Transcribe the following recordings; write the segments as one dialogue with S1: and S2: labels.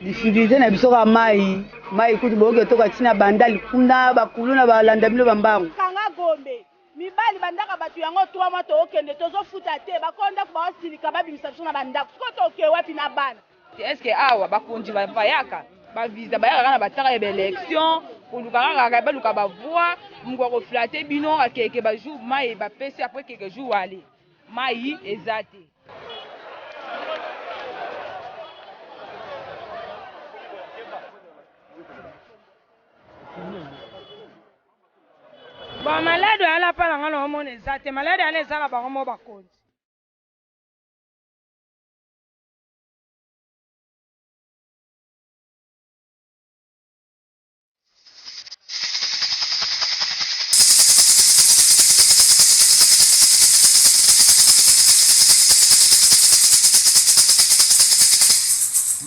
S1: Difficulte na biso kaka mayi, mayi kutu boyoki etoka ti na bandal kuna ba kuluna ba landa bino ba mbangu. Kanga gombe
S2: mibali ba ndaka batu yango trois mois toko kende tozo futa te ba kolo ndaku bao silika ba bimisa biso na ba ndaku sikoyo toke wapi na bana. Est ce que awa
S3: ba konzi ba bayaka ba visa ba yaka kaka na ba tara ya ba election koluka kaka ba luka ba voix muku ako flatter bino akeke ba jour mayi ba pesi après keke jour aller mayi eza te.
S2: ba malade oyo alapa na nga na omona eza te malade yana eza na bango mo bakonzi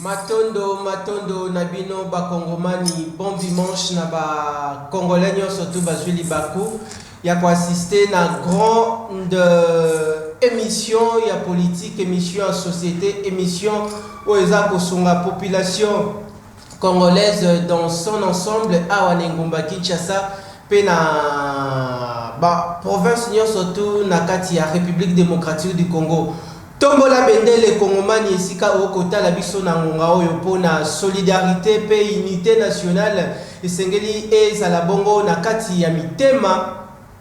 S4: matondo matondo na bino bakongomani bon dimanche na bacongolais nyonso tu bazwi libaku ya koassiste na grande euh, émission ya politique émission ya société émission oyo eza kosunga population Congolaise dans son ensemble awa na engumba Kinshasa mpe na ba provinces nionso tout na kati ya Republique Democratique du Congo. Tombola bendele kongomani esika oko tala biso na ngonga oyo mpo na solidarite mpe unite nationale esengeli ezala bongo na kati ya mitema.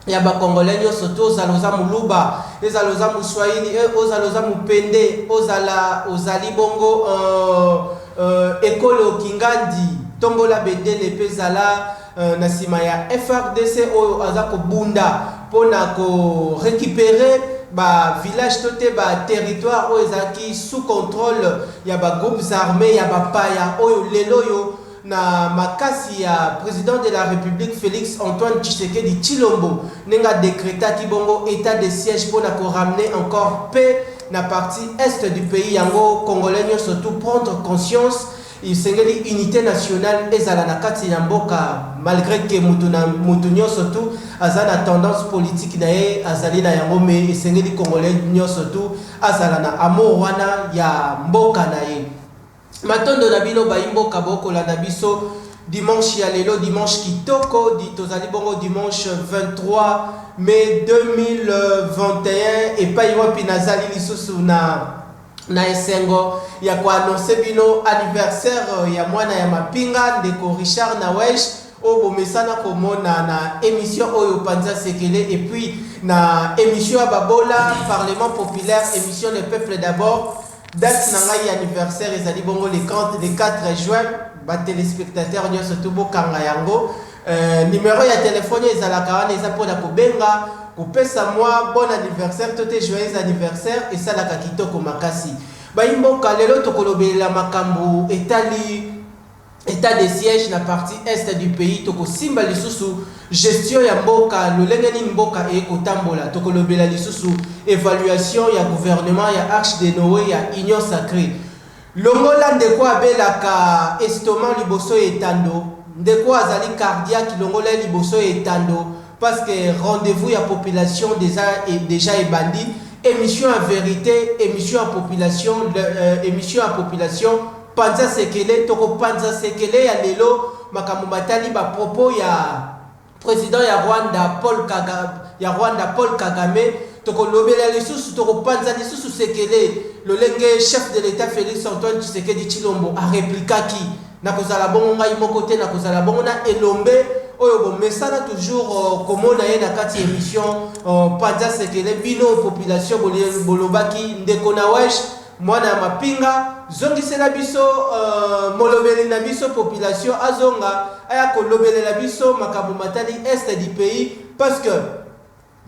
S4: ya ba congolais nioso to zala oza muluba ezala oza muswahili e ozala oza mupende ozala ozali bongo uh, uh, ekolo kingandi tombola bendele pe zala uh, na sima ya FRDC oyo aza kobunda pona ko recuperer ba village to te ba territoire oyo ezalaki sous controle ya ba groupes armes ya ba paya oyo lelo yo na makasi ya President de la Republique Felix Antoine Tshisekedi Tshilombo ndenge a decretaki bongo etat de siège mpo na ko ramener encore paix na partie Est du pays yango Congolais nionso tout prendre conscience esengeli unite nationale ezala na kati na mboka malgre que mutu na mutu nionso tout aza na tendance politique na ye azali na yango mais esengeli Congolais nionso tout azala na amour wana ya mboka na ye. Matondo na bino bayi mboka bo kolanda biso dimanche ya lelo dimanche kitoko di tozali bongo dimanche 23 mai 2021 epayi wapi nazali lisusu na na esengo ya ko annonce bino anniversaire ya mwana ya mapinga ndeko Richard Nawesh oyo bomesana komona na emission oyo panza sekele et puis na emission ya babola parlement populaire emission le peuple d'abord Date na ngai ya anniversaire ezali bongo le 30 le 4 juin ba telespectateurs nionso tout bokanga yango euh, numero ya telefone ezalaka wana eza mpona kobenga kopesa mwa bon anniversaire to te joyeux anniversaire esalaka kitoko makasi bayimboka lelo tokolobelela makambo etali Etat de siège na partie Est du pays toko simba lisusu gestion ya mboka lolenge nini mboka eye ko tambola toko lobela lisusu evaluation ya gouvernement ya arche de Noe ya union sacree longola ndeko abelaka estomac liboso ya etando ndeko azali cardiaque longola ye liboso ya etando Parce que rendez vous ya population deja deja ebandi emission ya verite emission ya population euh, emission ya population panza sekele toko panza sekele ya lelo makambo matali ba propos ya president ya Rwanda Paul Kagame ya Rwanda Paul Kagame toko lobela lisusu toko panza lisusu sekele lolenge chef de l'etat Felix Antoine Tshisekedi Tshilombo a replikaki Nakozala bongo ngai moko te, nakozala bongo na elombe oyo bomesana toujours komona ye na kati ya emission Panza Sekele. Bino population bolobaki ndeko Nawesh mwana ya mapinga, zongisela biso molobeli na biso, population azonga aya kolobelela biso makambo matali Est du pays parce que,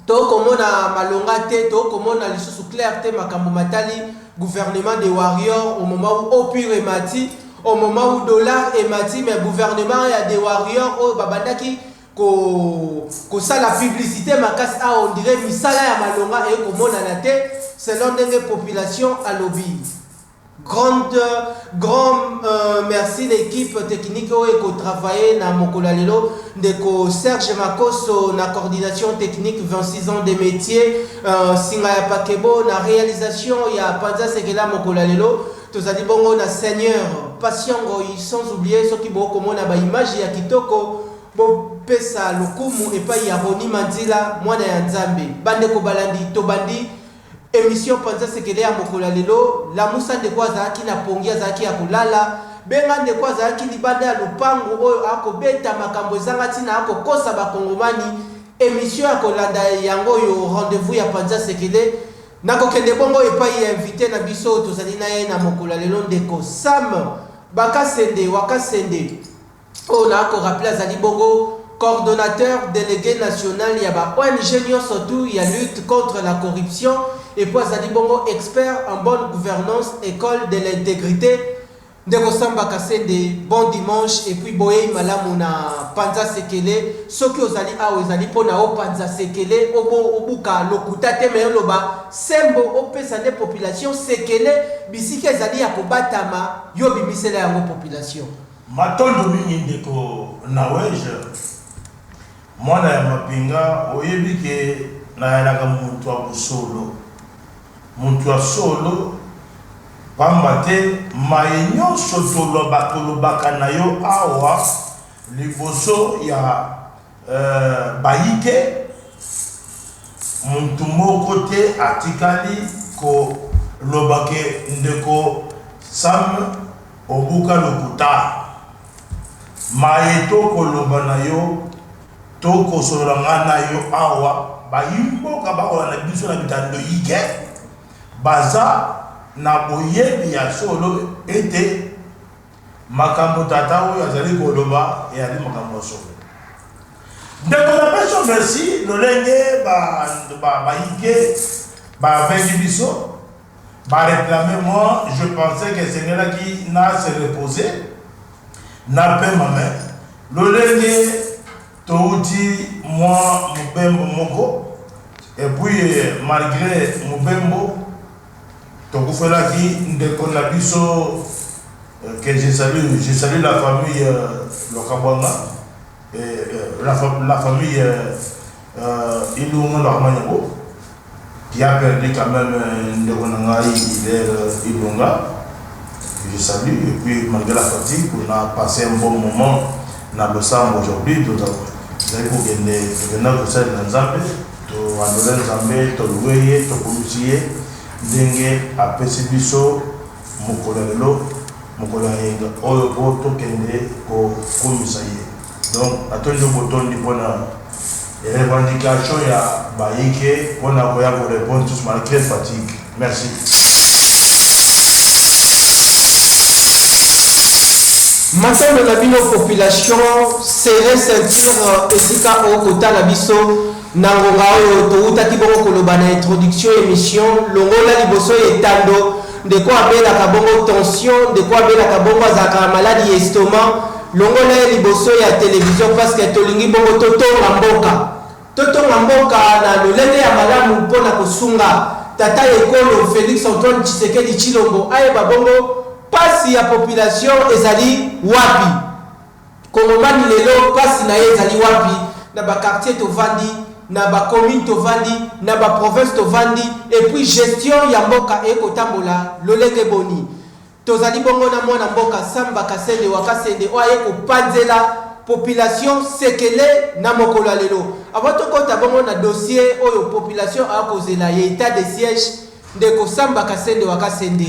S4: To komona malonga te, to komona lisusu clair te makambo matali gouvernement de warrior au moment où eau pure emati, au moment où dollar emati mais gouvernement ya de warrior oyo babandaki ko kosala publicite makasi awa on dirait misala ya malonga eye komonana te selon ndenge population alobi. Grande grand merci na equipe technique oyo eko travailler na mokolo ya lelo ndeko Serge Makoso na coordination technique 26 ans de metier singa ya pakebo na realisation ya panza sekela mokolo ya lelo tozali bongo na seigneur patient ngoyi sans oublier soki bo komona ba image ya kitoko bo pesa lokumu epayi ya Rony Manzila mwana ya nzambe bandeko balandi tobandi Emission panza sekele ya mokolo ya lelo lamusa ndeko azalaki na pongi azalaki ya kolala benga ndeko azalaki libanda ya lopango oyo ako beta makambo ezanga tina ako kosa ba kongomani emission ya kolanda yango oyo rendez vous ya panza sekele nako kende bongo epayi ya invite na biso oyo tozali naye na mokolo ya lelo ndeko Sam bakasende wakasende Oyo na ko rappeler azali bongo coordonnateur delegue national ya ba ong nionso tout ya lutte contre la corruption et puis azali bongo expert en bonne gouvernance ecole de l'integrite. Ndeko Samba Kasende, bon dimanche et puis boyeyi malamu na Panza Sekele. Soki ozali awa ezali mpo na o panza sekele, obo obuka lokuta te mais oloba sembo opesa nde population sekele bisika ezali ya kobatama yo bimisela yango population. Matondo
S5: mingi ndeko Naweje mwana ya mapinga oyebi ke nayalaka mutu ya bosolo mutu ya solo pamba te maye nionso tolobaka olobaka nayo awa liboso ya Euh bayike mutu moko te atikali ko loba que ndeko sam obuka lokutaa maye to ko loba na yo to ko solola nga na yo awa bayi mboka ba kolanda biso na bitando yike baza na boyebi ya solo ete Makambo tata oyo azali koloba eyali makambo ya solo. Ndeko na biso merci lolenge ba ba baike ba bengi biso ba reclamer moi je pensais que sengelaki na se reposer na pema mais lolenge touti moi mobembo moko et puis malgre mobembo Tokufelaki ndeko na biso que je salue je salue la famille lokabwanga et la famille ilunga lohamanyako qui a perdu quand meme ndeko na ngai hilaire ilunga que je salue et puis malgre la fatigue on a passe un bon moment na losambo aujourd'hui tozali kokende tokenda kosalela nzambe To andole Nzambe, to loue ye, to kumisi ye ndenge a pesi biso mokolo ya lelo, mokolo ya yenga oyo po to kende ko kumisa ye. Donc na tondi yo botondi pona revendication ya ba ike pona koya ko repondre lisusu malgre fatigue. Merci.
S4: Matambe na bino population serre ceinture esika o kotala biso na ngonga oyo towutaki bongo koloba na introduction emission longola liboso ya etando ndeko abelaka bongo tension ndeko abelaka bongo azalaka na maladi ya estomac longola ye liboso ya television parce que tolingi bongo totonga mboka Totonga mboka na lolenge ya malamu mpo na kosunga tata ekolo Felix Antoine Tshisekedi Tshilombo ayeba bongo pasi ya population ezali wapi. Kongomani lelo pasi na ye ezali wapi na ba quartiers tovandi, na ba communes tovandi, na ba provinces tovandi et puis gestion ya mboka eko tambola lolenge boni? Tozali bongo na mwana mboka Samba Kasende wa Kasende oyo aye kopanzela population sekele na mokolo ya lelo. Avant tokota bongo na dossier oyo population aya kozela ya etat de siège, ndeko Samba Kasende wa Kasende,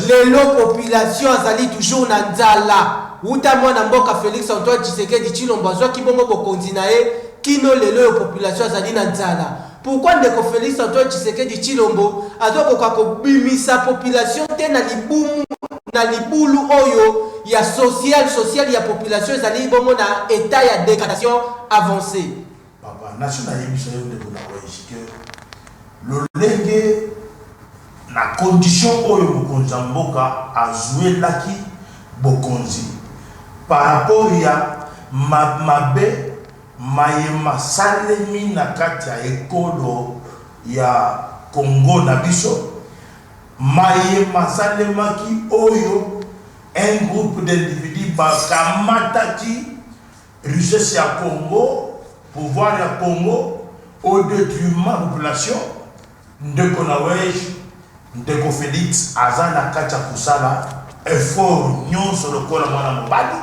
S4: lelo population azali toujours na nzala wuta mwana mboka Felix Antoine Tshisekedi Tshilombo azwaki bongo bokonzi na ye kino lelo oyo population azali na nzala. Pourquoi ndeko Felix Antoine Tshisekedi Tshilombo azo koka ko bimisa population te na libumu na libulu oyo ya social social ya population ezali bongo na etat ya degradation avancee? Papa naso
S5: na yebisa yo ndeko na Lois que lolenge na condition oyo mokonzi ya mboka azuelaki bokonzi par rapport ya mabe maye masalemi na kati ya ekolo ya Congo na biso, maye masalemaki oyo un groupe d'individus bakamataki richesse ya Congo, pouvoir ya Congo au detriment ya population Ndeko Nawej, Ndeko Felix aza na kati ya kosala effort nionso lokola muana mobali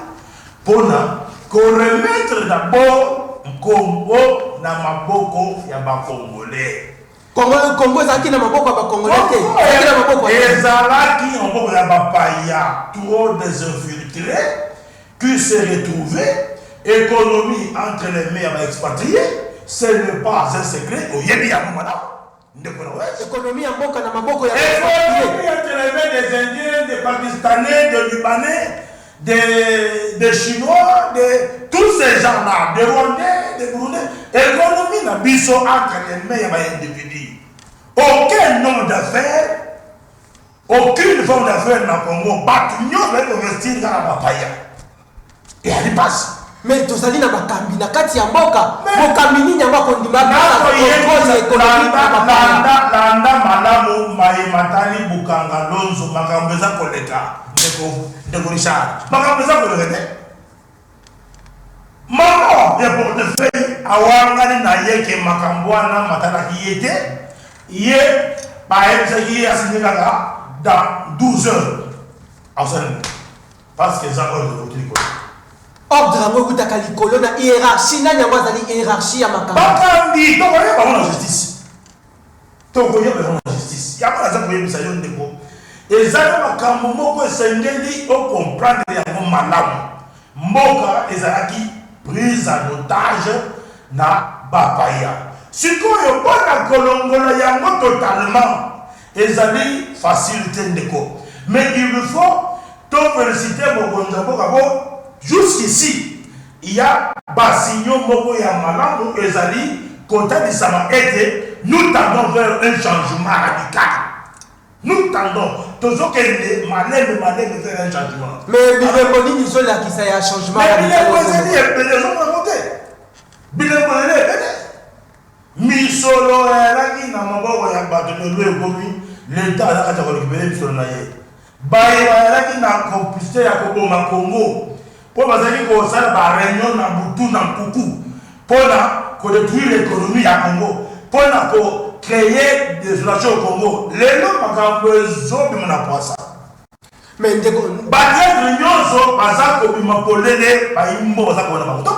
S5: pona ko remettre d'abord nkombo na maboko ya ba Congolais. Congo
S4: ezalaki na maboko ya ba Congolais te, ezalaki na maboko ya nani? Ezalaki
S5: na maboko ya bapaya, trop des infiltres Qui s'est retrouve economie entre les mains ya ba expatries ce n'est pas un secret oyebi yango malamu ndeko na west.
S4: Economie ya mboka na maboko ya ba expatries. Economie entre les
S5: mains des indiens, des pakistanais, des libanais, des des chinois, des tous ces gens là, des rwandais, des burundais, economie na biso entre les mains ya ba individus. Aucun homme d'affaires. Aucune forme d'affaire na Congo, batu nionso baye ko investir kaka ba paya. Eyali pasi. Mais tozali na
S4: bakambi na kati ya mboka, mokambi nini yango akondima apesa controle ya economie na ba paya?
S5: Landa, landa malamu maye matali Bukanga Lonzo, makambo eza koleka ndeko, ndeko Richard, makambo eza koleka te. Moko ya portefeuille awangani na ye que makambo wana matalaki ye te, ye bayebisaki ye a signer kaka dans 12 heures akosalela parce que eza ordre ewuti likolo. Ordre
S4: yango ewutaka likolo na hierarchie, nani yango azali hierarchie ya makambo? Bakambi tokoyeba
S5: yango na justice. Toko yeba yango na justice. Yango naza koyebisa yo ndeko, eza na makambo moko esengeli o comprendre yango malamu. Mboka ezalaki prise en otage na ba paya. Sikoyo po na kolongola yango totalement ezali facile te ndeko. Mais il faut to feliciter mokonzi ya mboka po jusqu'ici, Ya basinyo moko ya malamu ezali kotalisama ete nous tendons vers un changement radical. Nous tendons, tozokende malembe malembe vers un changement. Mais bilembo nini
S4: ezolakisa ya changement radical? Mais bilembo ezali ebele,
S5: ozomona yango te? Bilembo ezali ebele. Misolo eyalaki na maboko ya bato, lelo ekomi l'Etat aza kati ya ko recuperer misolo na ye. Baye bazalaki na complicite ya koboma Congo mpo bazalaki kosala ba reunions na butu na nkuku mpo na ko detruire economie ya Congo, mpo na ko creer desolation au Congo, lelo makambo ezo bima na pwasa. Mais
S4: ndeko. Ba
S5: traitres nionso baza kobima polele, bayimbo baza kobanda bango. Donc.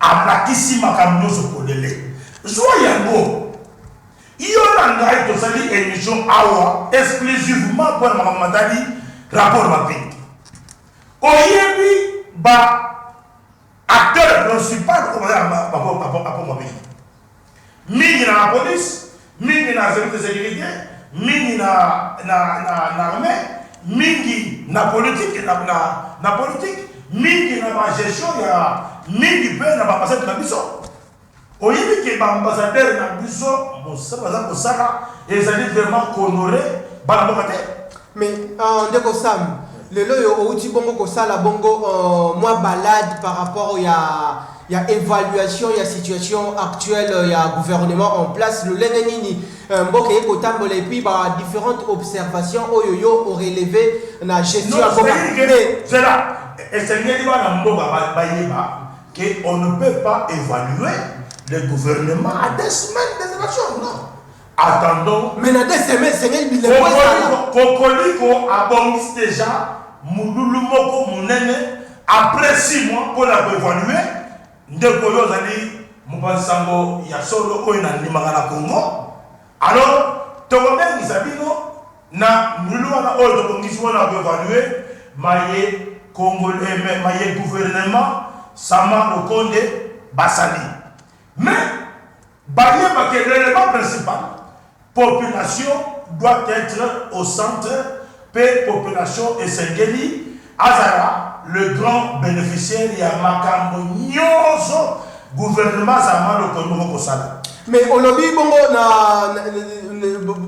S5: Alakisi makambo nionso polele. Zua yango. Yo na ngai tosali emission awa exclusivement pona makambo matali rapport Mapinga. Oyebi ba acteurs principal oyo baza na rapport Mapinga? Mingi na la police, mingi na service de securite, mingi na na na n'armee, mingi na politique na na na politique, mingi na ba gestion ya mingi pe na ba ambassade na biso. Oyebi ke ba ambassadeurs na biso mosala baza kosala ezali vraiment ko honorer bana mboka te? Mais uh,
S4: ndeko Sam, lelo yo outi bongo kosala bongo uh, mwa balade par rapport ya ya evaluation ya situation actuelle ya gouvernement en place, lolenge nini euh, mboka eko tambola et puis ba differentes observations oyo yo o relever na gestion ya mboka. C'est
S5: là, esengeli bana mboka bayeba que on ne peut pas évaluer le gouvernement à des semaines des élections, non. Attendons. Mais na deux semaines,
S4: esengeli bilembo ezala. Kokoliko
S5: abongisi deja mululu moko munene après six mois mpo na koevalue ndeko yo ozali mopanzi sango ya solo oyo nandimaka na Congo alors tokobengisa bino na mululu wana oyo tobongisi mpo na koevalue maye congolais mais maye gouvernement sama lokonde basali mais Bayeba que l'element principal population doit etre au centre mpe population esengeli azala le grand beneficiaire ya makambo nyoso gouvernement za maloko moko kosala. Mais olobi
S4: bongo na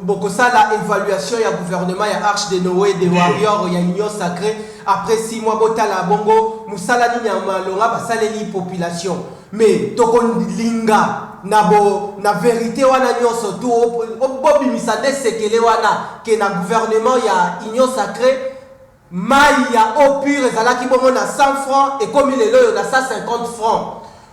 S4: bokosala evaluation ya gouvernement ya arche de Noe des warriors ya union sacree après six mois botala bongo musala nini ya malonga basaleli population. Mais toko linga na bo na verite wana nionso tu bo bimisa nde sekele wana ke na gouvernement ya union sacree mayi ya eau pure ezalaki bongo na 100 francs ekomi lelo oyo na 150 francs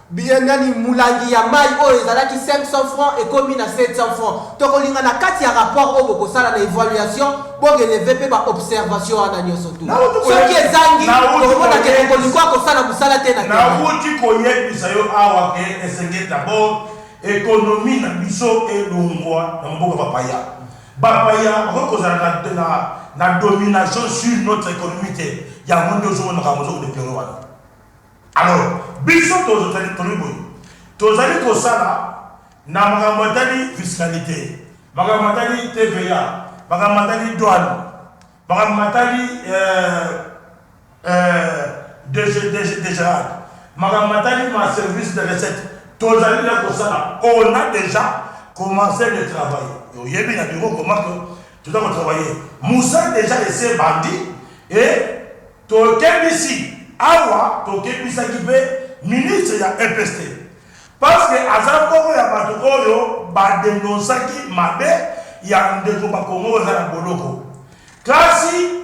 S4: bien nani mulangi ya mayi oyo ezalaki 500 francs ekomi na 700 francs toko linga na kati ya rapport oyo boko sala na evaluation Bo relever pe ba observations wana nioso tout. Nauti koye- Soki ezangi, Nauti tokomona ke koyebisa- Cocoliko akosala musala te na Kenya. Nawuti
S5: koyebisa yo awa ke esengeli d'abord economie na biso elongwa na maboko ya bapaya. Bapaya bakoki kozala na, na, na domination sur notre economie te. Yango nde ozomona makambo ozo ko deplorer wana. Alors, biso tozali tolobi boye, tozali kosala na makambo matali fiscalite, makambo matali TVA, makambo matali douane, makambo matali eh, eh, degerade, makambo matali ma service de recette, tozali na kosala, on a dejà commence de travailler. Oyebi na bureau comment que toza ko travailler. Musala dejà esi ebandi et Tokebisi awa tokebisaki pe ministre ya EPST parce que aza moko ya batu oyo ba denonsaki mabe ya ndeko bakongo oyo aza na boloko kasi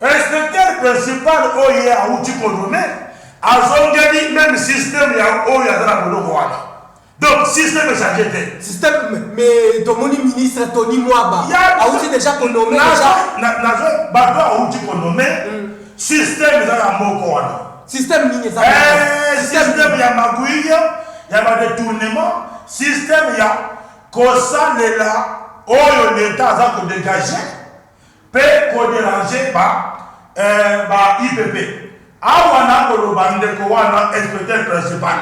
S5: inspecteur principal oyo ye awuti ko nomme azongeli meme systeme ya oyo aza na boloko wana Donc système echange te. Système mais
S4: tomoni ministre Tony Mwaba auti deja konome deja. Nazo bato
S5: auti konome système eza na moko wana. Système nini eza?
S4: Eh, système ya
S5: magouille, ya ba détournement, système ya kosalela oyo l'État aza ko dégager pe ko deranger ba eh ba IPP awa nako loba ndeko wana inspecteur principal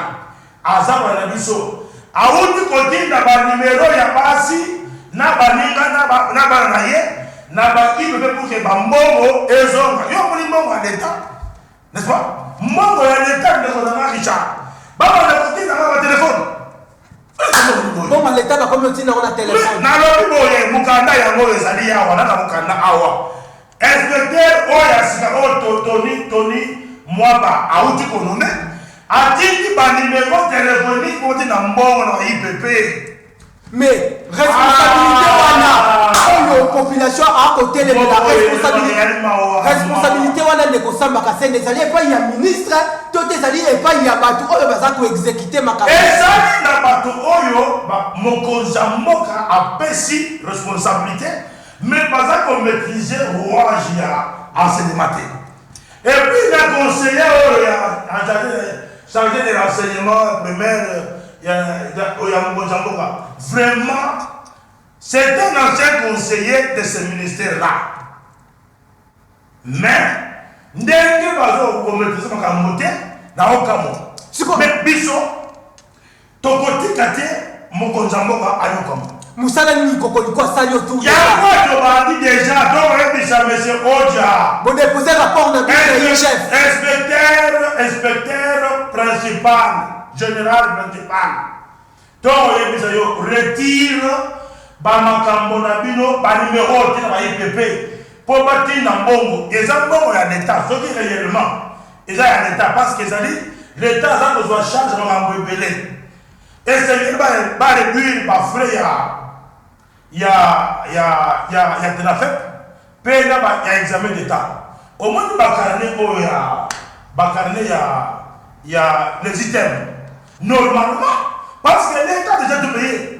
S5: aza ba na biso awuti ko tinda ba numero ya basi na baninga na ba na bana na ye na ba IPP pour que ba mbongo ezonga yo omoni mbongo ya l'etat N'est-ce pas? Mbongo ya l'etat ndeko na nga Richard. Ba banda ko tinda nga ba telephone.
S4: Boma l'etat ba komi otinda ngo na telephone. Na lobi boye
S5: mukanda yango oyo ezali awa na na mukanda awa. Inspecteur oyo ya sika oyo to Tony Tony Mwaba awuti ko nommer atindi ba numero telephonique boti na mbongo na IPP. Mais
S4: responsabilite wana oyo population akotelemela responsabilite wana ndeko samba kasende ezali epai ya ministre to te ezali epai ya bato oyo baza koexekute makambo ezali na bato
S5: oyo mokonzi ya mboka apesi responsabilite mais baza komaitrise rouage ya enseignement te Et puis na conseiller oyo ya charge de renseignement primaire ya mokonzi ya mboka vraiment c'est un ancien conseiller de ce ministère là mais ndenge bazo kometriser makambo te naokamwa mais biso Tokotika te mokonzi ya mboka ayokama. Musala nini
S4: kokoliko asali yo tour ya yango tobandi
S5: deja tokoyebisa monsieur oja bodepose rapport
S4: na bino chef inspecteur inspecteur
S5: principal general principal tokoyebisa yo retire bamakambo na bino banimero oyo tina ba ipp mpo batinda mbongo eza mbongo ya leta soki reyellement Eza ya l'etat parce que ezali l'etat aza kozwa charge makambo ebele. Esengeli ba ba reduire ba frais ya ya ya ya ya Tenafep pe na ba ya examen d'etat. Omoni ba carnet oyo ya ba carnet ya ya les items normalement parce que l'etat dejà tout paye.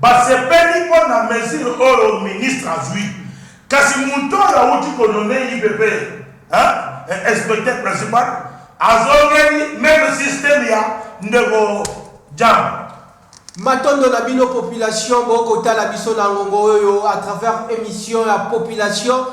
S5: Basepeli mpo na mesure oyo ministre azwi. Kasi moto oyo awuti ko nommer IPP hein inspecteur principal azongeli meme système ya ndeko Djamba. Matondo
S4: na bino population bo ko tala biso na ngongo oyo à travers emission ya population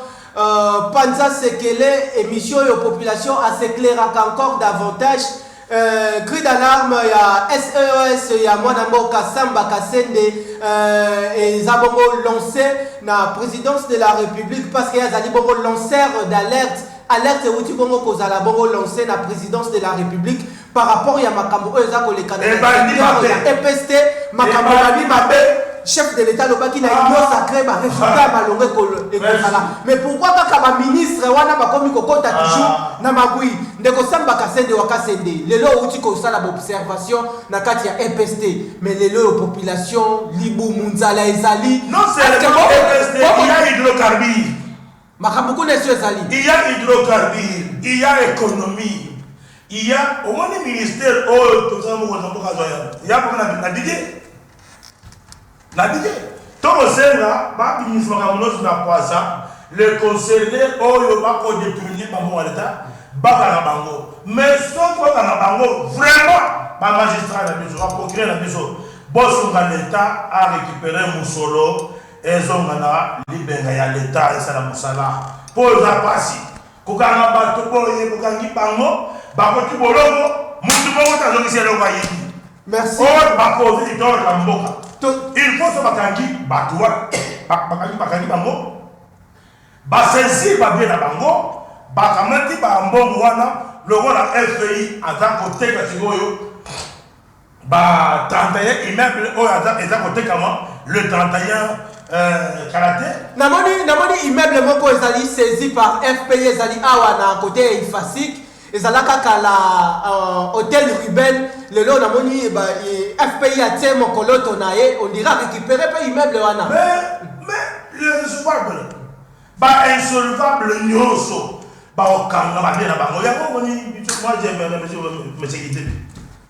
S4: panza sekele emission oyo population a s'eclairaka encore davantage. Euh, cri d'alarme ya SES e ya mwana mboka Samba Kasende euh, eza bongo lancé na présidence de la République parce que azali bongo lanceur d'alerte alerte euti bongo kozala bongo lancé na présidence de la République par rapport ya makambo oyo eza kolekana ya EPST makambo ebandi mabe chef de l'état alobaki na ah. union sacré baresultat ya ah. malonga ekozala mais pourquoi kaka baministre wana bakomi kokota ah. toujours na magui Ndeko Samba Kasende wa Kasende, lelo owuti kosala ba observations na kati ya EPST, mais lelo oyo population, libumu, nzala ezali, Non est-ce que seulement bo-
S5: EPST, bo- il y a hydrocarbures, makambo
S4: kuna esi ezali. il y a
S5: hydrocarbures, il y a économie, il y a omoni ministère oyo tozala moko na mboka azwa yango. Ya mboka na na Didier. Na bike. To kosenga ba bimisa makambo nionso na pwasa, les concernes oyo ba ko detourner ba mbongo ya l'Etat ba kanga bango. Mais soki ba kanga bango vraiment ba magistrats na biso, ba procureurs na biso bo sunga l'Etat a recuperer mosolo ezonga na libenga ya l'Etat esala mosala po eza pasi. Kokanga bato boye bokangi bango bakoti boloko mutu moko te azongisi eloko ayibi. Merci. Or
S4: bakozi
S5: litolo na mboka. Il faut so bakangi bato wana bakangi bakangi bango ba saisir ba bien na bango bakamati ba mbongo wana lokola FPI aza koteka sikoyo Ba 31 immeuble oyo aza eza kotekama le 31 euh, kala te. Namoni namoni
S4: immeuble moko ezali saisi par FPI ezali awa na kote ya Ifasic ezalaka kala uh, hotel Ruben lelo namoni ba eh, FPI atie mokoloto na ye on dirait récupérer pe immeuble wana. Mais mais
S5: le recevable ba insolvable nyoso baokanga babia na bango yango omoni moi j'aime monsieur monsieur Kitebi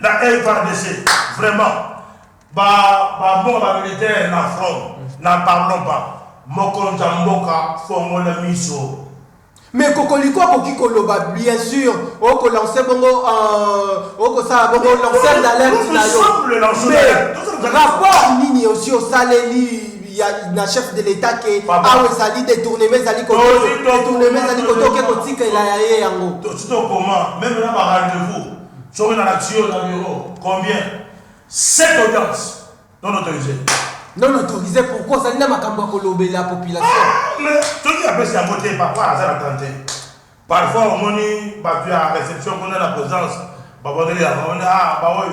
S5: na FRDC vraiment ba ba mboka ba militaire na front na pardon ba mokonzi ya mboka fongola miso Mais
S4: Kokoliko akoki koloba bien sûr oko lancer bongo euh, oko sala bongo lancer d'alerte na yo mais rapport nini osi osaleli ya na chef de l'etat ke Papa. awa ezali detournement ezali koto- Tozi to- detournement ezali koto oke kotikela ya ye yango Tout au commun,
S5: même là, par rendez-vous, sur une action dans le bureau, combien Sept audiences non autorisées. non autorise
S4: pourquoi ozali na makambo ya kolobela population Mais tout qui
S5: a fait sa beauté, papa, ça l'a tenté. Parfois, on moni, bah, tu as réception, on a la présence, bah, on est là, on est là, bah, oui.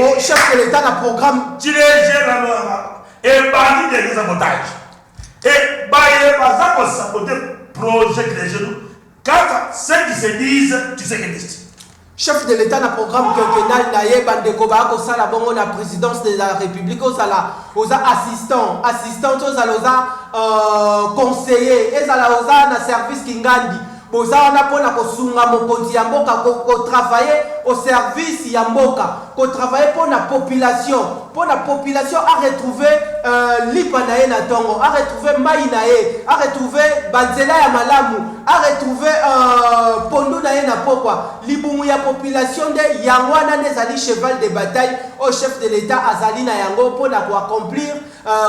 S4: Oh, chef de l'Etat na programme. Chileje na lora.
S5: E bandi de kisa botage. E baye baza ko saboter projet Chileje nous. Kaka ceux qui se disent tu sais que disent. chef de l'état na
S4: programme quinquennal na ye bandeko baya kosala bongo na présidence de la république ozala oza assistant assistant to ozala oza euh, conseiller ezala oza na service kingandi Boza wana pona kosunga mokonzi ya mboka ko travailler au service ya mboka ko travailler pona population pona population a retrouver lipa naye na tongo a retrouver mayi naye a retrouver ba nzela ya malamu a retrouver pondu naye na pokwa libumu ya population nde yango wana nde ezali cheval de bataille oyo chef de l'etat azali na yango pona ko accomplir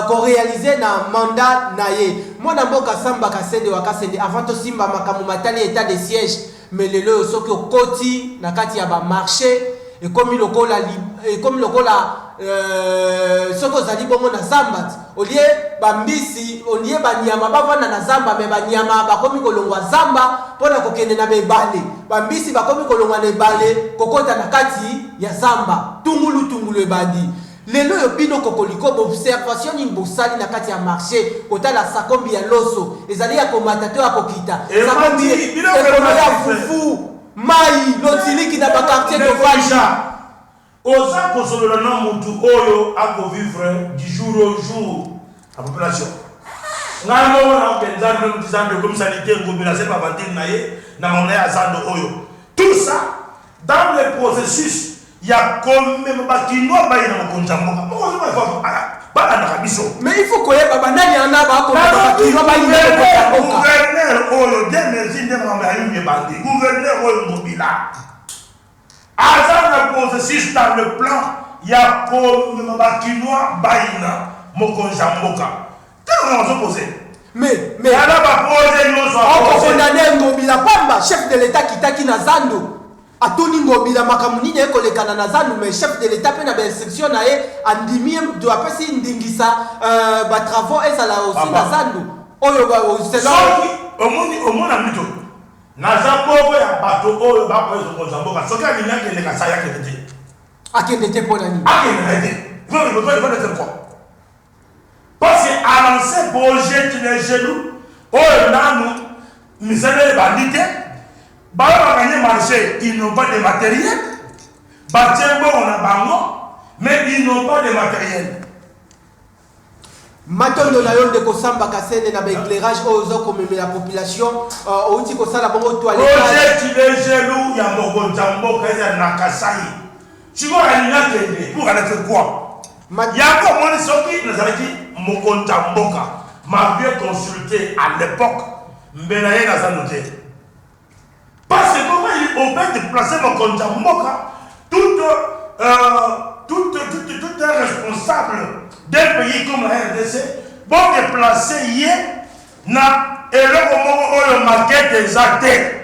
S4: ko realiser na mandat na ye. Mwana mboka Samba Kasende wa Kasende avant to simba makambo matali etat de siège mais lelo oyo soki okoti na kati ya ba marches ekomi lokola ekomi lokola euh, soki ozali bongo na zamba olie bambisi olie banyama bavanda na zamba me banyama bakomi kolongwa zamba mpo na kokende na bebale bambisi bakomi kolongwa na ebale kokota na kati ya zamba tungulu tungulu ebandi Lelo oyo bino kokoliko b'observation nini bosali na kati ya marche kotala sakombi ya loso ezali ya komata to ya kokita? Sakombi ekolo ya fufu, mayi, lotiliki na ba quartier tofandi. Oza
S5: kosolola na mutu oyo a ko vivre du jour au jour na population. Ngai moko na yoka nzambe meme ti zambe ekomi salite ngobila asali ba aventure na ye na mama na ye ya zando oyo tout ça Dans le processus ya komema ba kinois baye na mokonzi ya mboka, moko zoba il faut balandaka biso. Mais il faut koyeba ba
S4: nani wana ba komema ba kinois baye na mokonzi ya mboka. Gouverneur oyo
S5: Dieu merci nde makambo ya yuma ebandi. Gouverneur oyo Ngobila aza na processus dans le plan ya komema ba kinois baye na mokonzi ya mboka. Tala na ozo poser. Mais mais Tala
S4: ba pose
S5: nyoso a oko poser. condamner
S4: Ngobila pamba chef de l'etat akitaki na zando atuni Ngobila makambo nini aye kolekana na zando mais chef de l'etat pe na ba instructions na ye andimi ye do apesi ndingisa euh, ba travaux ezala aussi Papa. na zando oyo ba o- selon Soki omoni omona
S5: mito. Naza moko ya bato oyo ba pose konza mboka. Soki alingi akende Kasaï akende te. akende te mpo na
S4: nini Akende na ye te. Peuple
S5: peut pas le faire n'importe quoi. Pasi a lance Boje tu les genoux oyo nanu misala ebandi te ba oyo ba gagne marche ils n'ont pas de materiel ba tie mbongo na bango mais ils n'ont pas de materiel.
S4: Matondo na yo ndeko Samba Kasende na ba eclairage oyo oza komemela population euh, outi kosala bongo toiletage. Roger Tibejelu
S5: ya mokonzi ya mboka ezali na Kasai Sikoyo alingi akende pour aller faire quoi? Yango omoni soki nazalaki mokonzi ya mboka m'aviez consulte à l'epoque mbela ye naza note parce que comment il on peut deplacer mokonzi ya mboka tout tout tout tout un responsable d'un pays comme la RDC bo deplacer ye na eloko moko oyo maquette eza te.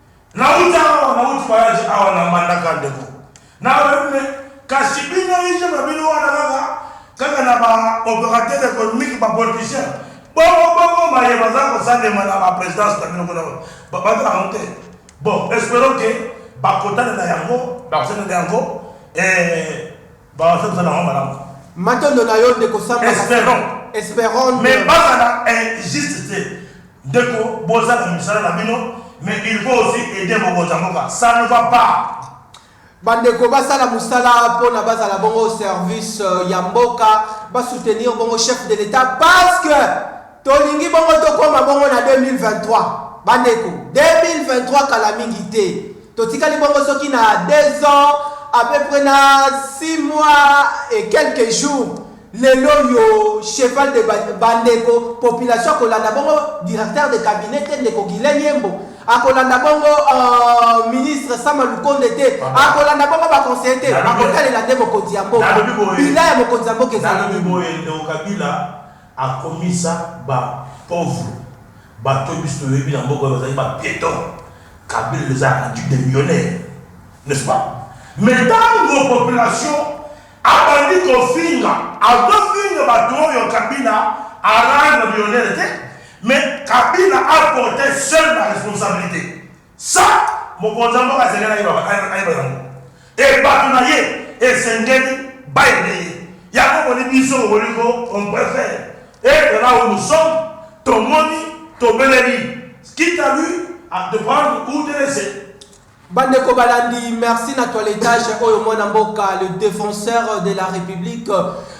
S5: Nawuti awa nawuti voyage awa na mbandaka ndeko nao yebi me kasi bino hygiene na bino wana kaka kaka na ba operateur economique ba politiciens bongo bongo maye baza kosalema na ba presidence na bino kuna ba bato na yango te bon esperons que bakotana na yango bakosalela yango eh Bazo sala yango malamu. Matondo na yo
S4: ndeko Samba Kasongo. Esperons. Esperons. Mais bazala
S5: injuste te. Ndeko boza na misala na bino mais il faut aussi aider mokonza mboka. Ça ne va pas. Bandeko
S4: basala musala pona bazala bongo service euh, ya mboka ba soutenir bongo chef de l'etat parce que tolingi bongo tokoma bongo na 2023 bandeko 2023 kala mingi te Totikali bongo soki na deux ans à peu près na six mois et quelques jours lelo yo cheval de bandeko population akolanda bongo directeur de cabinet te ndeko Guylain Yembo akolanda bongo uh, ministre Sama Lukonde te akolanda bongo ba conseiller te bakotalela nde mokonzi ya mboka bila ya mokonzi ya mboka ezali nini
S5: Akomisa ba pauvres bato oyo biso toyebi na mboka oyo bazalaki ba pietons. Kabila les a rendus des millionnaires n'est ce pas? Mais tango population abandi kofinga azofinga bato oyo Kabila a rendre millionnaires te mais Kabila a porter seul la responsabilite. Sa, mokonzi ya mboka asengeli ayeba, ayeba yango, e bato na ye esengeli bayebi ye. Yango boni biso bokoki ko on prefere etre là où nous sommes, tomoni, tobeleli, quitte à lui à de prendre ou de laisser. Bandeko
S4: balandi, merci na toiletage oyo mwana mboka le defenseur de la republique.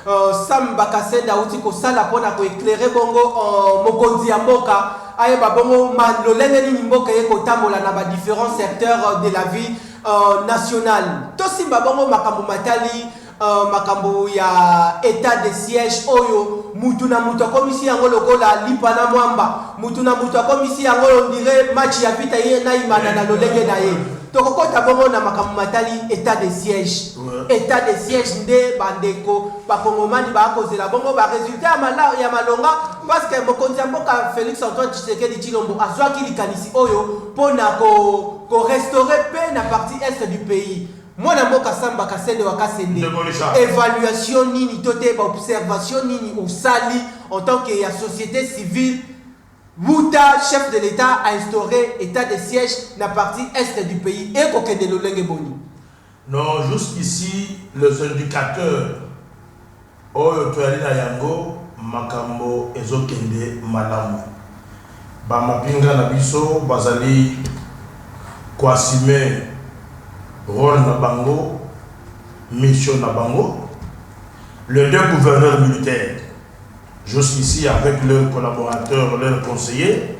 S4: Euh, Sam Bakasenda auti kosala mpo na koeclaire bongo euh, mokonzi ya mboka ayeba bongo ma lolenge nini mboka eye kotambola na badifférents secteurs euh, de la vie euh, nationale tosimba bongo makambo matali euh, makambo ya état de siège oyo mutu na mutu akomisi yango lokola lipa na mwamba mutu na mutu akomisi yango ondire match ya vita ye na imana na lolenge na ye tokokɔta bongo na makambo matali état de siège Etat de siège nde ba ndeko ba kongomani ba kozela bongo ba resultat ya mala ya malonga parce que mokonzi ya mboka Felix Antoine Tshisekedi Tshilombo azwaki likanisi oyo pona ko ko restaurer paix na partie est du pays. Mwana mboka Samba Kasende wa Kasende, evaluation nini to te ba observation nini osali en tant que ya societe civile wuta chef de l'Etat a instaurer etat de siège na partie est du pays eko kende lolenge boni? Non
S5: jusqu'ici les indicateurs oyo toyali na yango makambo ezo kende malamu. Ba mapinga na biso bazali ko assumer role na bango, mission na bango. Les deux gouverneurs militaires jusqu'ici avec leurs collaborateurs, leurs conseillers,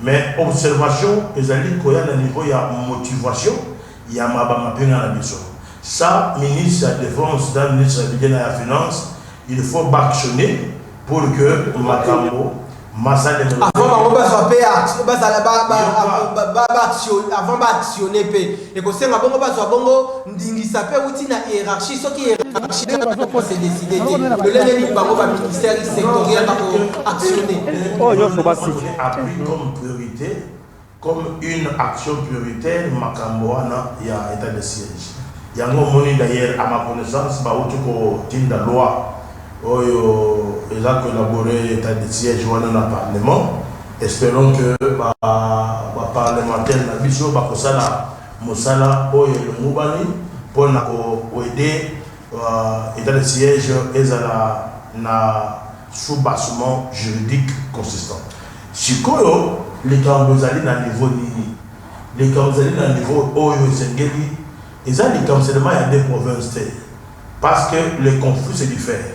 S5: Mais observation ezali koya na niveau ya motivation ya maba mapinga na biso. Sa ministre ya defense na ministre ya budget na ya finance il faut b'actionner pour que makambo masalemela. Avant
S4: bango bazwa pe action, bazala ba ba ba ba ba actionner pe. Ekosenga bongo bazwa bongo ndingisa mpe euti na hierarchie soki hierarchie nde bazokosa decide te lolenge nini bango ba ministère sectoriel bako actionner oyo nyonso basiki appui comme
S5: priorité comme une action prioritaire makambo wana ya état de siège yango omoni d'ailleurs à ma connaissance bauti kotinda loi oyo eza koelabore état de siège wana na parlement Esperons que ba ba parlementaires na biso bakosala mosala oyo elongobani mpo na ko aider etat de siège ezala na soubassement juridique consistant. Sikoyo likambo ezali na niveau nini? Likambo ezali na niveau oyo esengeli, eza likambo seulement ya deux provinces te, parce que les conflits se diffèrent.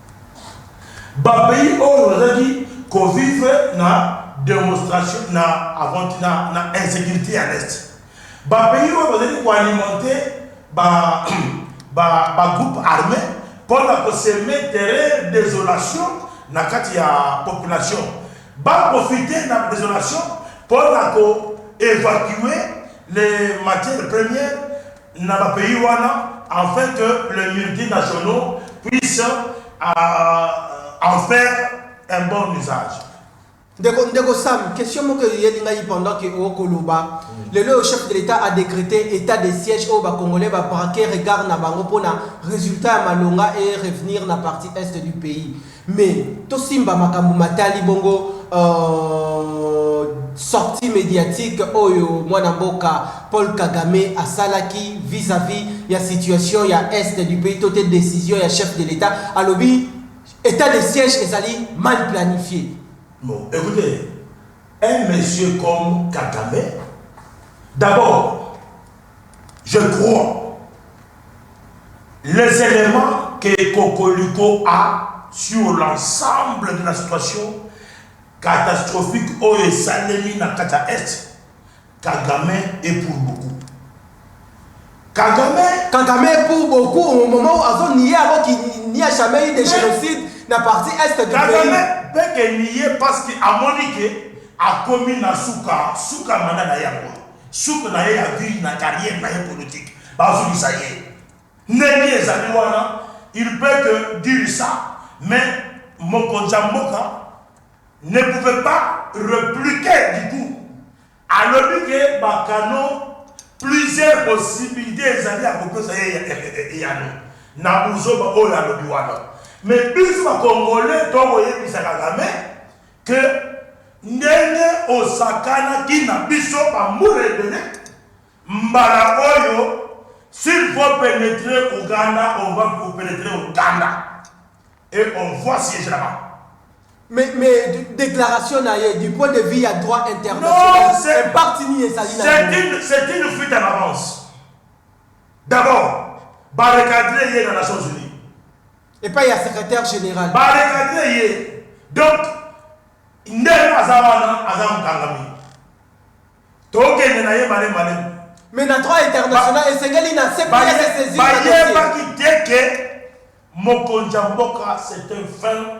S5: Ba pays oyo bazalaki ko vivre na demostration na aventi na na insecurite ya l'est. Ba pays oyo bazalaki ko alimenter ba ba ba groupes armes pona ko semer terreur, desolation na kati ya population. Ba profiter na desolation pona ko evacuer les matières premières. na ba pays wana afin que les multinationaux puissent en faire un bon usage. Ndeko, ndeko
S4: Sam, question moko eyeli ngai pendant que o koloba. Lelo oyo chef de l'Etat a decreter état de siège oyo ba Congolais ba braquer regard na bango pona resultat ya malonga e revenir na partie est du pays. Mais to simba makambu matali bongo euh sortie mediatique oyo mwana mboka Paul Kagame asalaki vis à vis ya situation ya Est du pays to te decision ya chef de l'Etat alobi etat de siège ezali mal planifier. Bon ecoutez
S5: un monsieur comme Kagame d'abord. Je crois les elements que Kokoliko a sur l'ensemble de la situation catastrophique oyo esalemi na kati ya Est, Kagame est pour beaucoup. Kagame
S4: Kagame est pour beaucoup au moment où azo nier alors qu'il n'y a jamais eu de génocide na partie Est du pays. Kagame peut que
S5: nier parce que amoni que akomi na suka, suka mandat na ye yango. Suka na ye ya vie na carrière na ye politique bazongisa ye ndenge ezali wana il peut te dire ça mais mokonzi ya mboka ne pouvait pas repliquer du coup alobi ke ba canaux plusieurs possibilites ezali ya kopesa ye eyano na buzoba oyo alobi wana mais biso ba congolais tokoyebisa kagame que ndenge osakanaki na biso ba mbula ebele mbala oyo s'il faut penetre Ouganda on va vous penetre Ouganda et on voit si je là-bas Mais,
S4: mais de- déclaration na ye du point de vue ya droit Non, international c'est- impact nini ezali na C'est yango? une,
S5: c'est une fuite en avance. D'abord, barricadrer hier dans les Nations Unies. Epai ya
S4: secretaire general. Ba recadrer ye.
S5: Donc ndel aza wana aza mokangami. Tokende na ye malembe malembe. Mais na droit
S4: international esengeli na CPI se saisir na dossier. Bayebaki te que
S5: mokonzi ya mboka c'est un fin.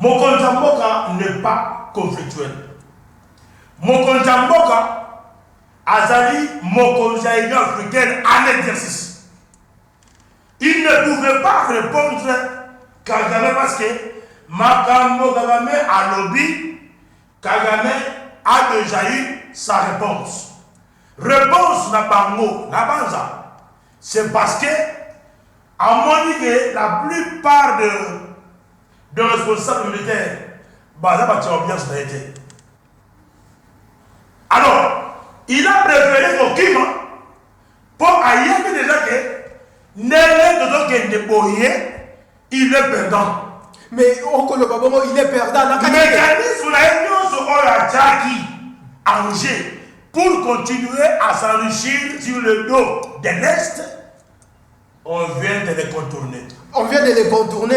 S5: Mokonzi ya mboka n'est pas conflictuel. Mokonzi ya mboka azali mokonzi ya Union africaine en exercice. Il ne pouvait pas repondre Kagame parce que makambo Kagame alobi, Kagame a dejà eu sa reponse. Reponse na bango, na banza, C'est parce que amoni que la plupart de de responsables militaires baza bato ya ambiance na ye te. Alors, il a prefere kokima mpo ayebi deja ke ndenge tozokende boye Il est perdant. Mais
S4: okoloba bongo il est perdant na kati. Mecanisme
S5: na ye nionso oyo atiaki en jeu pour continuer à s'enrichir sur le dos de l'Est, on vient de le contourner. On vient de le
S4: contourner,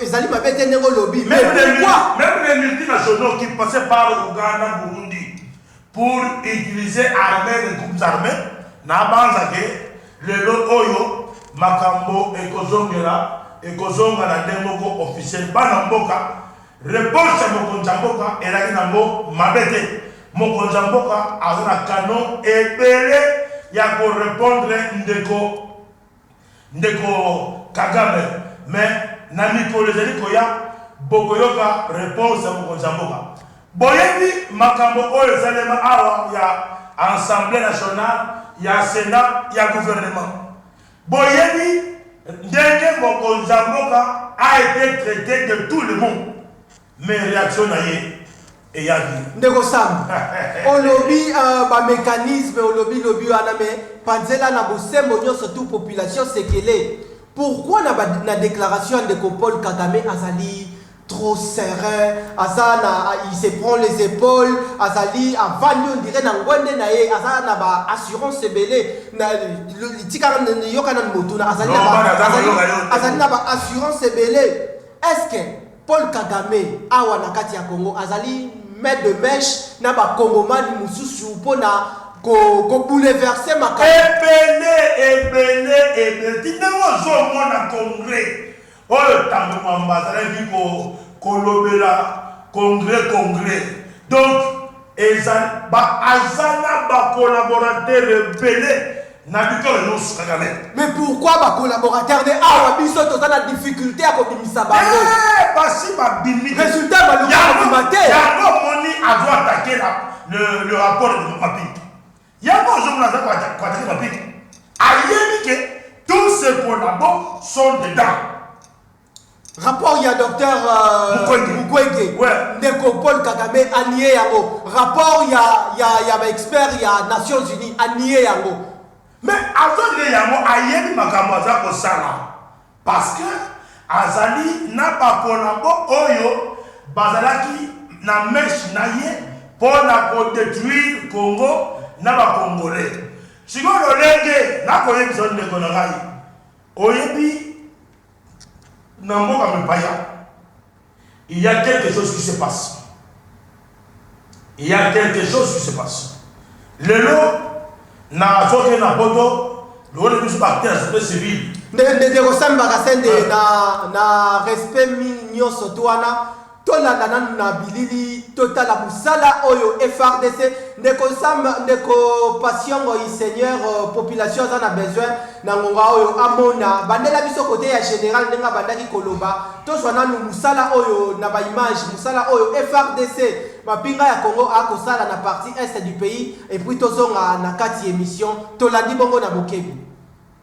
S4: ezali mabe te ndenge olobi. Même les
S5: multinationaux qui passaient par Ouganda, Burundi, pour utiliser armee les groupes armes na banza ke lelo oyo makambo ekozongela ekozonga na nde moko officiel bana mboka reponse ya mokonzi ya mboka elaki na ngo mabe te mokonzi ya mboka aza na canon ebele ya ko repondre ndeko Ndeko kagame mais na mikolo ezali koya bokoyoka reponse ya mokonzi ya mboka boyebi makambo oyo esalema awa ya ensemble national ya senat ya gouvernement boyebi ndenge mokonzi ya mboka a ete traite de tout le monde Mais reaction na ye eyaki. Ndeko Sam,
S4: olobi euh, ba mecanisme olobi lobi wana me panzela na bosembo nyonso tout population sekele. Pourquoi na, ba, na déclaration ya ndeko Paul Kagame azali trop serein, aza na, il se prend les épaules, azali avandi on dirait na ngwende na ye, aza na ba assurance ebele na litika yoka na motuna azali na ba azali, azali na ba assurance ebele. Est-ce que Paul Kagame awa na kati ya Congo azali main de mèche na ba Congomani mususu mpo na ko ko bouleverser makambo. Ebele
S5: ebele ebele ti ndenge ozo mona congrès oyo tangu Mwamba azalaki ko kolobela congrès congrès donc Ezali ba aza na ba collaborateurs ebele na bikolo nionso kagame. Mais pourquoi ba
S4: collaborateurs nde awa biso toza na difficulte ya kobimisa bango? Eeh basi
S5: babimi te. Resultat baluki kobima
S4: te. Yango omoni
S5: azo attaquer la le, le rapport de Mapinga. Yango ozomona aza ko attaquer Mapinga. Ayebi que tous ses collabos sont dedans.
S4: rapport ya docteur Mukwege, uh, Mukwege. Ouais. ndeko Paul Kagame anie yango rapport ya ya ya ba expert ya Nations Unies anie yango mais
S5: azonde yango ayebi makambo aza kosala parce que azali na bakolabo oyo bazalaki na meshe na ye mpo na kodetruire congo na bakongolais sikoyo lolenge nakoyebisa ndeko na ngai oyebi Na mboka mipaya il ya quelque chose qui se passe, il ya quelque chose qui se passe. Lelo na zoke na poto lewone biso ba acteurs société civile. Ndeko Sam
S4: Bakasende, ah. na, na respect nyonso to wana Tolanda nanu na bilili totala musala oyo FARDC ndeko Sam ndeko Patient Ngoyi seigneur population aza na besoin na ngonga oyo amona bandela biso kote ya general ndenge abandaki koloba tozwa nanu musala oyo na ba image musala oyo FARDC mapinga ya Congo akosala na partie est du pays et puis tozonga na kati emission tolandi bongo na bokebi.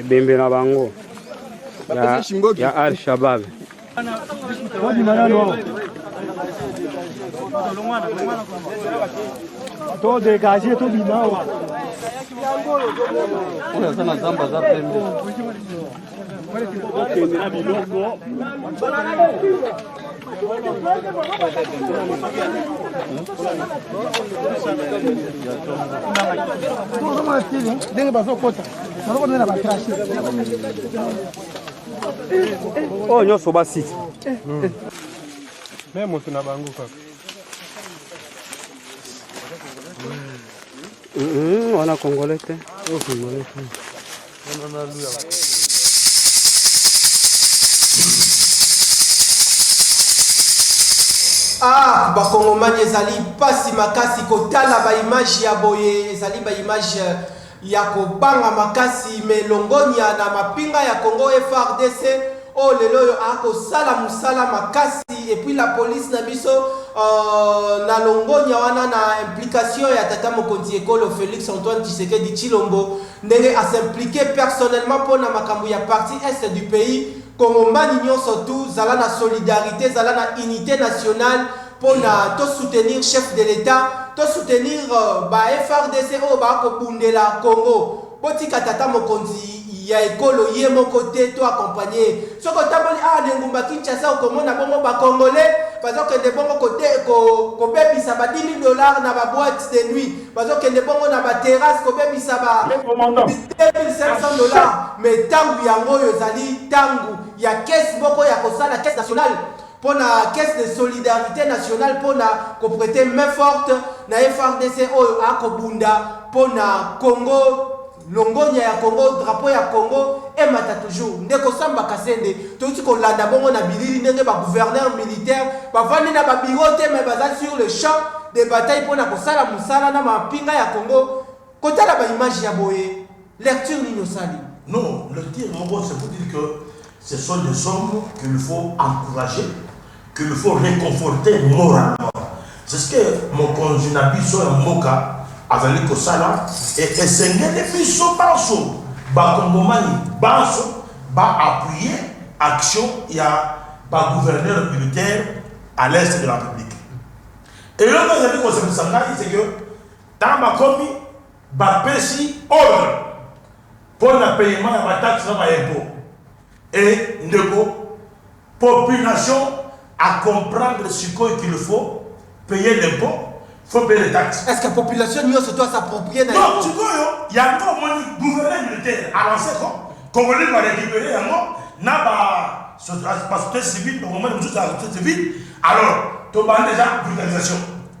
S6: ebembe
S7: na bango ya al shabab
S6: to dégage to bima wa oyo aza na zamba aza pembe
S7: ndenge bazokota baloko nde na batrache oyo nyonso basi
S6: me moto na bango kaka
S7: wana congolais te
S4: Ah, bakongomani ezali mpasi makasi kotala baimage ya boye ezali baimage euh, ya kobanga makasi me longonya na mapinga ya congo frdc oyo oh, lelo oyo akosala mosala makasi epuis la polise na biso uh, na longonya wana na implication ya tata mokonzi ekolo félix antoine tshisekedi tshilombo ndenge a s'impliquer personnellement mpo na makambo ya partie Est du pays, Congomani nionso tout zala na solidarite, zala na unite nationale mpo na to soutenir chef de l'Etat, to soutenir ba FARDC oyo ba ko bundela Congo. Botika tata mokonzi ya ekolo ye moko te to accompagner ye. Soki otamboli awa na engumba Kinshasa okomona bongo ba congolais bazo kende bongo ko bebisa ba 10.000 dollars na ba boites de nuit. Bazo kende bongo na ba terrasse ko bebisa ba 2500 dollars mais tangu yango oyo ezali tangu ya caisse moko ya kosala caisse nationale pona caisse de solidarite nationale pona ko preter main forte na FARDC oyo ako bunda pona Congo Longonya ya Congo drapeau ya Congo emata toujours ndeko Samba Kasende towuti kolanda bongo na bilili ndenge ba gouverneurs militaires bavandi na ba bureaux te mais baza sur le champ de bataille pona kosala musala na mampinga ya Congo kotala ba images ya boye lecture nini osali? Non, lecture
S5: moko c'est pour dire que ce sont des hommes qu'il faut encourager qu'il faut reconforter moralement c'est ce que mokonzi na biso ya mboka azali kosala et esengeli biso banso ba kongomani banso ba appuyer action ya ba gouverneurs militaires à l'est de la Republique eloko ezali kosepelisa ngai c'est que tango bakomi bapesi ordre mpo na payement ya ba taxes na ba impots et ndeko Population a comprendre sikoyo qu'il faut payer l'impot, faut payer les taxes. Est-ce que population nioso
S4: doit s'approprier na yango? Donc sikoyo
S5: yango omoni gouverner militaire a lancer ko congolais ba recuperer yango na ba societe civile ba congolais mususu ya societe civile alors tobandi dejà brutalisation.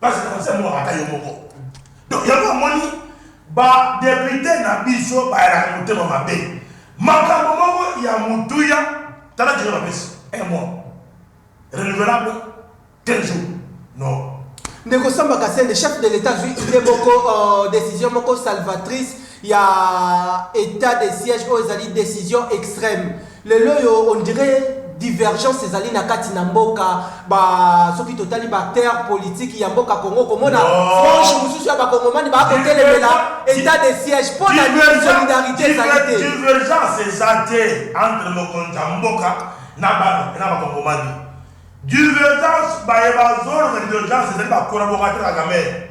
S5: Ba journaliste ya mboka ata yo moko donc yango omoni ba depute na biso bayalaka motema mabe makambo moko ya motuya tala jere bapesi un mois renouvelable quel jour non Ndeko Samba
S4: Kasende, chef de l'Etat azwi idee moko, uh, decision moko salvatrice ya etat de siège oyo ezali decision extrême. Lelo oyo on dirait divergence ezali na kati na mboka ba soki totali ba acteurs politiques ya mboka Congo komona non. frange mosusu ya bakongomani baa kotelemela etat de siège mpo na nini solidarité ezali te divergence eza
S5: te entre mokonzi ya mboka na bana mpe na bakongomani divergence baye bazolona divergence ezali bakolaborateur ya kamerhe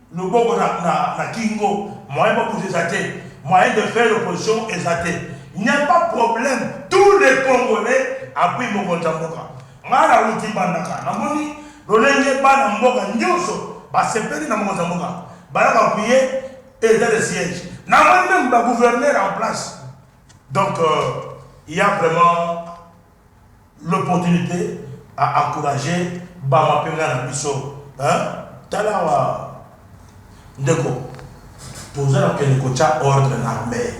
S5: loboko na na na kingo moyen bokuta eza te moyen de faire opposition eza te il n'y a pas problème tous les congolais appuie mokonzi ya mboka ngai na wuti bandaka na moni lolenge bana mboka nionso basepeli na mokonzi ya mboka baya ko appuie etat de siège na moni meme ba gouverneur en place donc euh, il y a vraiment l'opportunite a encourage ba mapenga na biso hein tala awa ndeko toza na kende kotia ordre na armee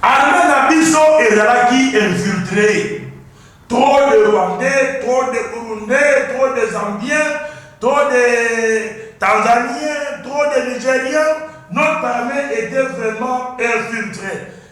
S5: armee na biso ezalaki infiltre trop de rwandais trop de burundais trop de zambiens trop de tanzaniens trop de nigeriens notre armee était vraiment infiltre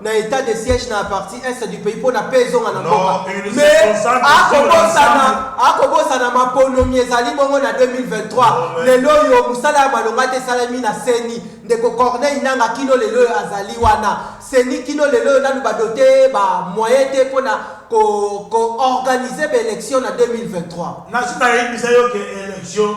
S4: na etat de siège na partie est du pays pona paix ezonga na mboka mais akobosana akobosana maponomi ezali bongo na 2023 lelo oyo mosala ya malonga te esalami na seni ndeko corneille nanga kino lelo oyo azali wana seni kino lelo oyo nanu badote ba moyen te mpona koorganize ko baélection na 2023 nasi nayebisa yo
S5: ke élection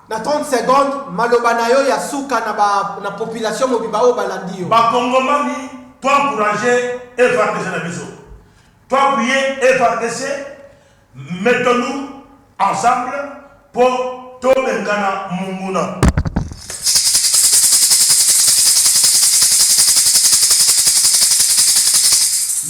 S5: Na 30 secondes,
S4: maloba na yo ya suka na ba na population mobimba oyo balandi yo. Ba kongomani
S5: to encourager FARDC na biso. To appuyer FARDC, mettons nous ensemble po to bengana monguna.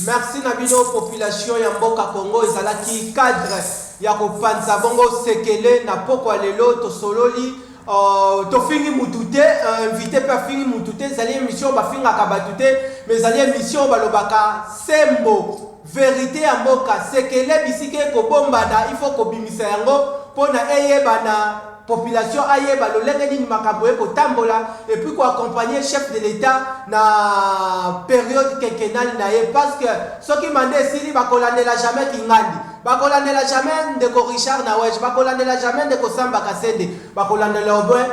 S4: Merci na bino population ya mboka Congo ezalaki cadre. ya kopanza bongo sekele na pokwa lelo tosololi Uh, tofingi mutu te uh, invité mpe afingi mutu te ezali émission bafingaka bato te mais ezali émission balobaka sembo verité ya mboka sekele bisika ekobombana il faut kobimisa yango mpo na eyebana population ayeba lolenge nini makambo ye kotambola epuis koaccompagne chef de l'état na periode quinquennale na ye parce que soki manda esili bakolandela jamais kingandi Bakolandela jamais ndeko Richard na Wege, bakolandela jamais ndeko Samba Kasende, bakolandela au moins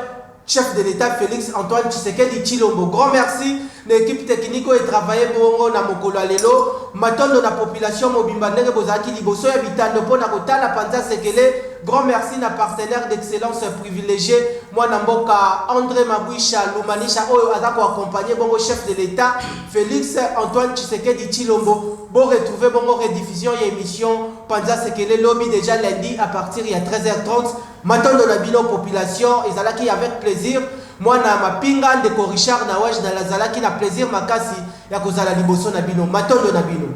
S4: Chef de l'Etat Felix Antoine Tshisekedi Tshilombo. Grand merci na equipe technique oyo e travailler bongo na mokolo ya lelo. Matondo na population mobimba ndenge bozalaki liboso ya bitando mpo na kotala panza sekele. Grand merci na partenaire d'excellence privilegie mwana mboka Andre Mabwisha Lumanisha oyo aza ko accompagner bongo Chef de l'Etat Felix Antoine Tshisekedi Tshilombo. Bo retrouver bongo rediffusion ya emission panza sekele lobi dejà lundi à partir ya 13h30. Matondo na bino population, ezalaki avec plaisir mwana mapinga ndeko Richard Nawaj na lazalaki na plaisir makasi ya kozala liboso na bino. Matondo na bino.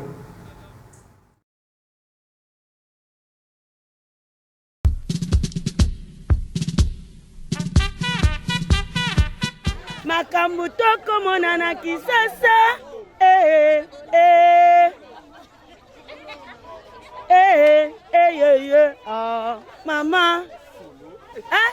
S2: makambo tokomona na kisasa eh, eh. Eh, eh, eh, eh, eh, ah, mama eh?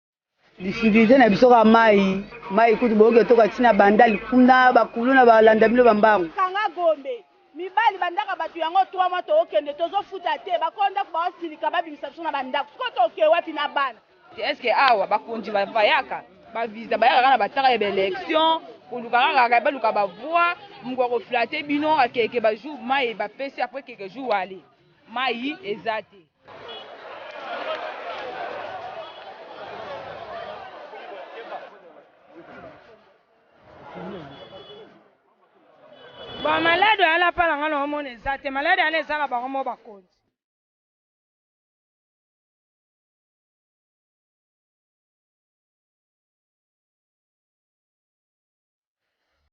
S1: Difficulte na biso kaka mayi, mayi kutu boyoki etoka ti na bandal kuna ba kuluna ba landa bino ba mbangu. Kanga gombe
S2: mibali ba ndaka batu yango trois mois toko kende tozo futa te ba kolo ndaku bao silika ba bimisa biso na ba ndaku sikoyo toke wapi na bana. Est ce que awa
S3: ba konzi ba vayaka ba visa ba yaka kaka na ba tanga ya ba election koluka kaka ba luka ba voix muku ako flatte bino akeke ba jour mayi ba pesi après keke jour aller mayi eza te.
S2: ba malade oyo alapa na nga na omona eza te malade yana eza na bango mo bakonzi